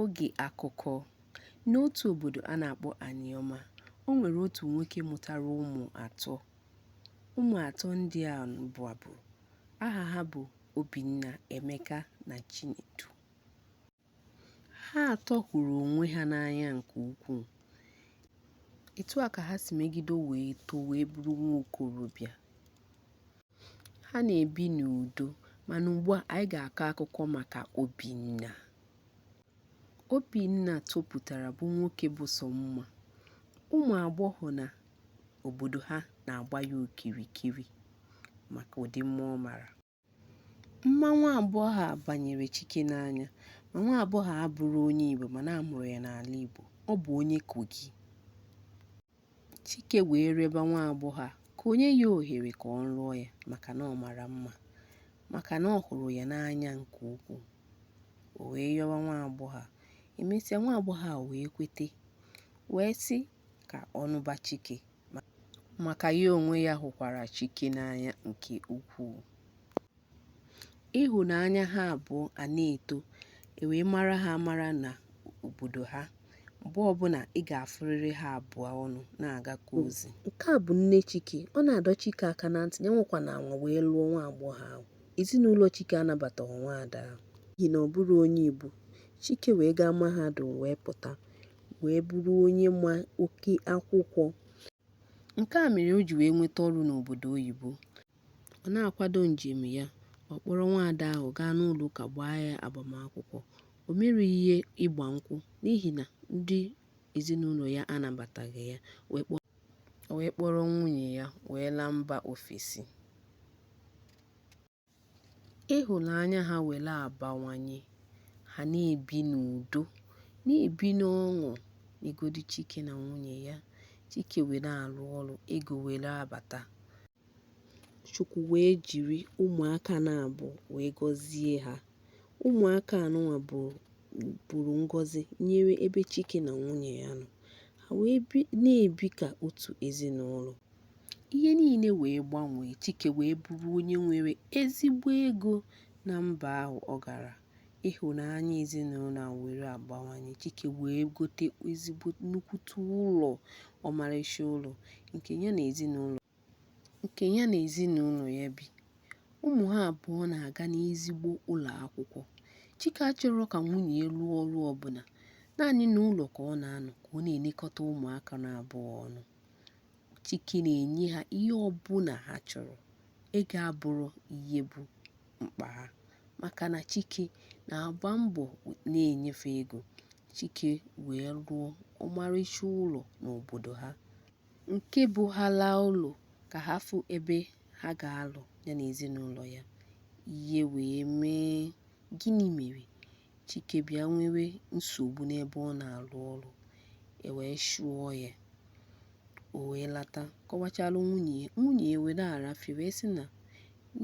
Oge akụkọ. N'otu obodo a na-akpọ Anioma, o nwere otu nwoke mụtara ụmụ atọ. Ụmụ atọ ndị a bụ abụ. Aha ha bụ Obinna, Emeka na Chinedu. Ha atọ hụrụ onwe ha n'anya nke ukwuu. Etu a ka ha si megide wee too wee bụrụ nwa okorobịa. Ha na-ebi n'udo. Mana ugbu a, anyị ga-akọ akụkọ maka Obinna. Obinna topụtara bụ nwoke bụ sọ mma. Ụmụ agbọghọ na obodo ha na-agba ya okirikiri maka ụdị mma ọ mara. Mma nwa agbọghọ a banyere Chike n'anya. Ma nwa agbọghọ a abụrọ onye Igbo mana a mụrụ ya n'ala Igbo. Ọ bụ onye Kogi. Chike wee rịọba nwa agbọghọ a ka o nye ya ohere ka ọ lụọ ya maka na ọ mara mma, maka na ọ hụrụ ya n'anya nke ukwuu. O wee yọba nwa agbọghọ a, emesịa nwa agbọghọ a wee kwete, wee sị ka ọ nụba Chike maka ya onwe ya hụkwara Chike n'anya nke ukwuu. Ịhụnanya ha abụọ a na-eto, e wee mara ha amara n'obodo ha. Mgbe ọbụla ị ga-afụrịrị ha abụọ ọnụ na-agakọ ozi. Nke a bụ nne Chike. Ọ na-adọ Chike aka na ntị, ya anwakwana anwa wee lụọ nwa agbọghọ ahụ. Ezinụlọ Chike anabataghị nwaada ahụ n'ihi na ọ bụrọ onye Igbo. Chike wee gaa mahadum wee pụta wee bụrụ onye ma oke akwụkwọ. Nke a mere o ji wee nweta ọrụ n'obodo oyibo. Ọ na-akwado njem ya, ọ kpọrọ nwaada ahụ gaa n'ụlọụka gbaa ya agbamakwụkwọ. O merọ ihe ịgba nkwụ n'ihi na ndị ezinụlọ ya anabataghị ya, o wee kpọrọ nwunye ya wee laa mba ofesi. Ịhụnanya ha were abawanye, ha na-ebi n'udo, na-ebi n'ọṅụ negodi Chike na nwunye ya. Chike wee na-arụ ọrụ, ego were abata. Chukwu wee jiri ụmụaka naabọ wee gọzie ha. Ụmụaka anụnwa bụrụ ngọzi nyere ebe Chike na nwunye ya nọ. Ha wee na-ebi ka otu ezinụlọ. Ihe niile wee gbanwee. Chike wee bụrụ onye nwere ezigbo ego na mba ahụ ọ gara. ịhụnanya ezinụlọ a were agbawanye Chike wee gote ezigbo nnukwute ụlọ ọmarịcha ụlọ nke ya na ezinụlọ ya bi ụmụ ha abụọ na-aga n'ezigbo ụlọ akwụkwọ Chike achọrọ ka nwunye ya lụọ ọrụ ọbụla naanị n'ụlọ ka ọ na-anọ ka ọ na-elekọta ụmụaka naabọ ọnụ Chike na-enye ha ihe ọbụla ha chọrọ ego abụrọ ihe bụ mkpa ha maka na Chike na-agba mbọ na-enye fa ego. Chike wee rụọ ọmarịcha ụlọ n'obodo ha nke bụ ha laa ụlọ ka ha fụ ebe ha ga-alụ ya na ezinụlọ ya. Ihe wee mee. Gịnị mere? Chike bịa nwewe nsogbu n'ebe ọ na-arụ ọrụ e wee chụọ ya o wee lata kọwachalụ nwunye ya nwunye ya were arafie wee sị na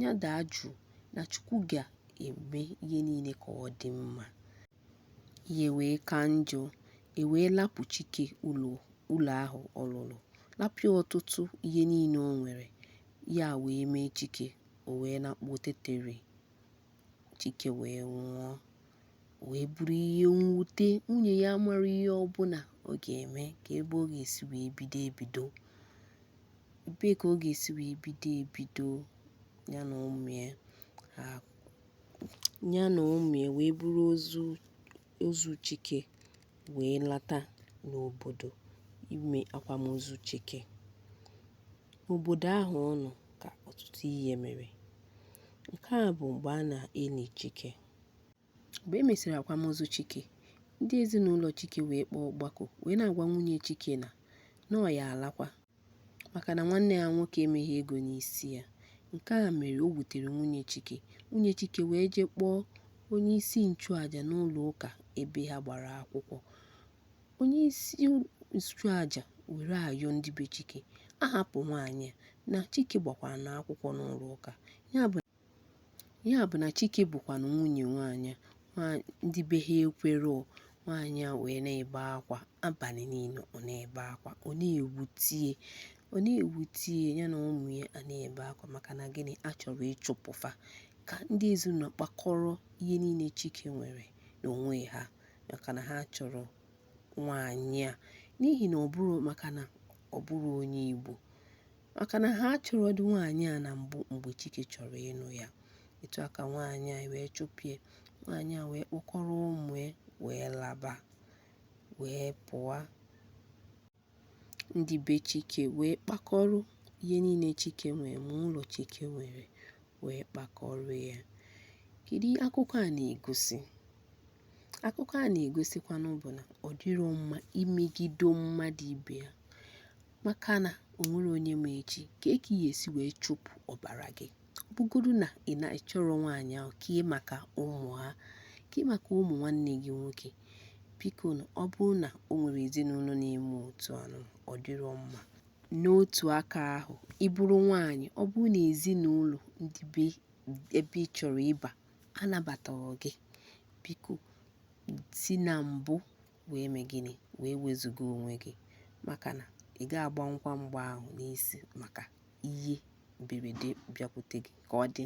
ya daa jụụ na Chukwu ga-eme ihe niile ka ọ dị mma ihe wee ka njọ e wee lapụ Chike ụlọ ahụ ọ rụrụ lapụ ya ọtụtụ ihe niile o nwere ya wee mee Chike o wee lakpuo tetero Chike wee nwụọ wee bụrụ ihe mwute nwunye ya amarọ ihe ọbụla ọ ga-eme ka ebe ọ ga-esi wee bido ebido ebee ka ọ ga-esi wee bido ya na ụmụ ya wee buru ozu ozu Chike wee lata n'obodo ime akwamozu Chike. N'obodo ahụ ọ nọ ka ọtụtụ ihe mere. Nke a bụ mgbe a na-eli Chike. Mgbe e mesịrị akwamozu Chike, ndị ezinụlọ Chike wee kpọọ ọgbakọ wee na-agwa nwunye Chike na na ọ ya-alakwa. maka na nwanne ya nwoke emeghị ego n'isi ya. Nke a mere o wutere nwunye Chike. Nwunye Chike wee jee kpọọ onye isi nchụaja n'ụlọ ụka ebe ha gbara akwụkwọ. Onye isi nchụaja were ayọ ndị be Chike, a hapụ nwaanyị a, na Chike gbakwaranụ akwụkwọ n'ụlọ ụka. Ya bụ Ya bụ na Chike bụkwanụ nwunye nwaanyị a, ndị be ha ekwero. Nwaanyị a wee na-ebe akwa abalị niile, ọ na-ebe akwa, ọ na-ewute ya na ụmụ ya a na-ebe akwa maka na gịnị a chọrọ ịchụpụ fa ka ndị ezinụlọ kpakọrọ ihe niile Chike nwere n'onwe ha maka na ha achọrọ nwaanyị a n'ihi na ọ bụrọ maka na ọ bụrọ onye Igbo maka na ha achọrọdị nwaanyị a na mbụ mgbe Chike chọrọ ịnụ ya etu a ka nwaanyị a wee chụpụ ya nwaanyị a wee kpọkọrọ ụmụ ya wee laba wee pụa ndị be Chike wee kpakọrọ ihe niile Chike nwere ma ụlọ Chike nwere wee kpakọrọ ya kedu ihe akụkọ a na-egosi akụkọ a na-egosikwanụ bụ na ọ dịrọ mma imegido mmadụ ibe ya maka na o nwere onye ma echi kee ka ị ya-esi wee chụpụ ọbara gị ọ bụgodu na ị na-achọrọ nwaanyị ahụ kee maka ụmụ ha kee maka ụmụ nwanne gị nwoke biko na ọ bụrụ na o nwere ezinụlọ na-eme otu anụ ọ dịrọ mma n'otu aka ahụ ị bụrụ nwaanyị ọ bụrụ na ezinụlọ ndị be ebe ị chọrọ ịba anabataghị gị biko si na mbụ wee mee gịnị? Wee wezuga onwe gị maka na ị ga-agbanwukwa mgba ahụ n'isi maka ihe mberede bịakwute gị ka ọ dị.